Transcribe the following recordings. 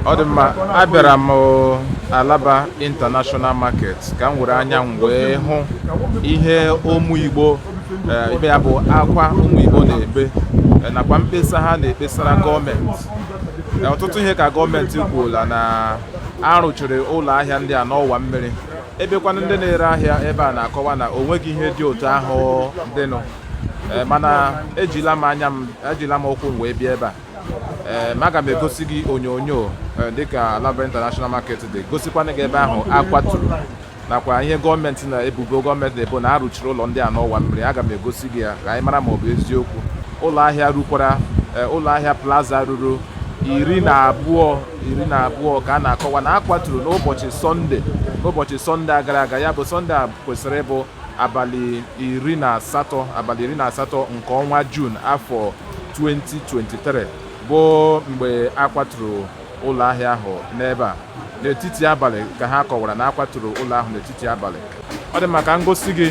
ọ dị mma abịara m alaba international market ka m were anya m wee hụ ihe ụmụ igbo eh, ibe ya bụ akwa ụmụ igbo na-ebe eh, nakwa mkpesa ha na-ekpesara gọọmenti eh, ọtụtụ ihe ka gọọmenti kwuola na arụchiri ụlọ ahịa ndị a n'ọwa mmiri ebekwanụ ndị na-ere ahịa ebe a na-akọwa na o nweghị ihe dị otu ahụ dịnụ mana ejila m anya m ejila m ụkwụ m wee bịa ebe a ee eh, aga m egosi gị onyonyo eh, dịka Alaba International Market dị gosikwanụ gị ebe ahụ akwaturu nakwa ihe gọọmenti na ebubo gọọmenti na-ebo na arụchiri ụlọ ndị a n'ọwa mmiri aga m egosi gị ya ka anyị mara ma ọ bụ eziokwu ụlọ ahịa rukwara eh, ụlọ ahịa plaza ruru iri na abụọ iri na abụọ ka a na-akọwa na akwaturu n'ụbọchị sọnde n'ụbọchị sọnde gara aga ya bụ sọnde a kwesịrị ịbụ abalị iri na asatọ abalị iri na asatọ nke ọnwa Jun afọ 2023 bụ mgbe a kwaturu ụlọ ahịa ahụ n'ebe a n'etiti abalị ka ha kọwara na a kwaturu ụlọ ahụ n'etiti abalị ọ dị mma ka m gosi gị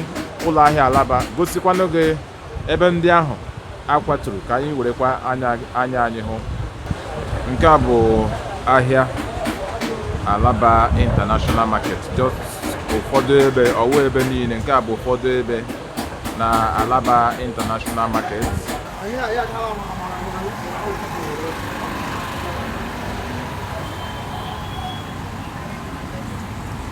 ụlọ ahịa Alaba gosikwanụ gị Ebe ndị ahụ a kwaturu, ka anyị werekwa anya anyị hụ. Nke a bụ ahịa Alaba International Market just ụfọdụ ebe ọ wụghị ebe niile nke a bụ ụfọdụ ebe na Alaba International Market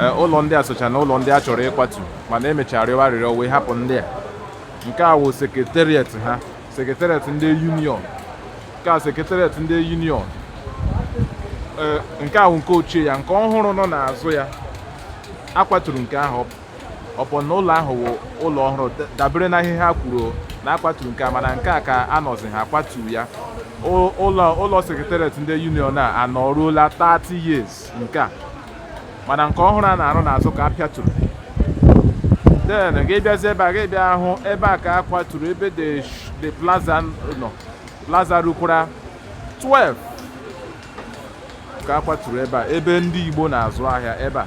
e, ụlọ ndị a socha na ụlọ ndị a chọrọ ịkwatu mana emechara rịọ arịrịọ wee hapụ ndị a nke a wụ sekretariat ha sekretariat ndị union nke a sekretariat ndị union e, nke a wụ nke ochie ya nke ọhụrụ nọ n'azụ ya akwaturu nke ahụ upon na ụlọ ahụ wụ ụlọ ọhụrụ dabere na ihe ha kwuru na akwaturu nke a mana nke a ka anọzi ha akwatu ya ụlọ ụlọ sekretariat ndị union a anọruola 30 years nke a mana nke ọhụrụ a na-arụ n'azụ ka a pịaturu then gị bịazi ebe a gị bịa hụ ebe a ka a kwaturu ebe the sh- the plaza nọ plaza rukwara 12 ka a kwaturu ebe a ebe ndị igbo na-azụ ahịa ebe a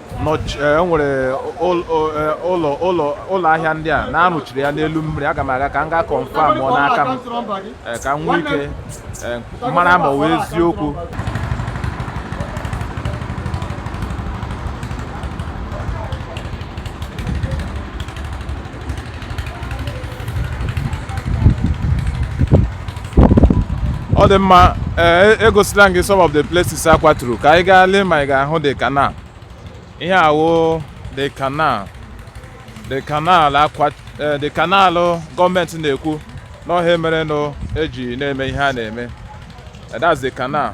enwere e ụlọ ụlọ ụlọ ahịa ndị a na arụchiri ya n'elu mmiri aga m aga ka m gaa confirm ọ n'aka m e, ka m nwee ike e, mara ma ọ wụ eziokwu ọ dị mma ee egosila m gị some of the places a kwaturu ka anyị gaa lee ma ị ga-ahụ the canal ihe a wụ the canal gọọmenti na-ekwu na ọ ihe a mere nụ eji na-eme ihe a na-eme Eh, that's the canal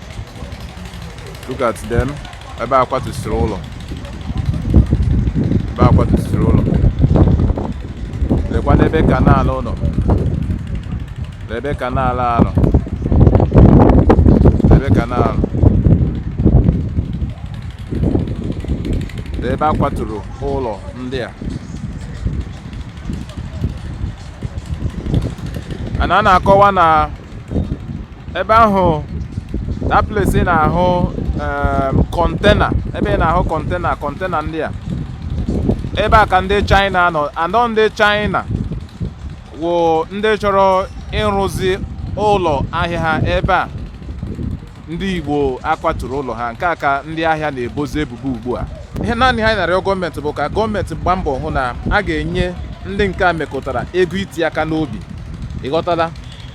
look at them ebe a kwatusiri ụlọ ebe a kwatusiri ụlọ lekwa n'ebe canal nọ n'ebe canal a nọ n'ebe canal ebe a kwaturu ụlọ ndị a a na a na-akọwa na ebe ahụ that place ị na-ahụ container um, ebe ị na-ahụ container container ndị a ebe a ka ndị China nọ anọ ndị China wụ ndị chọrọ ịrụzi ụlọ ahịa ha ebe a ndị Igbo a kwaturu ụlọ ha nke a ka ndị ahịa na-ebozi ebubo ugbu a ihe naanị ha na-arịọ gọọmenti bụ ka gọọmenti gbaa mbọ hụ na a ga-enye ndị nke a mekụtara ego iti aka n'obi ịghọtala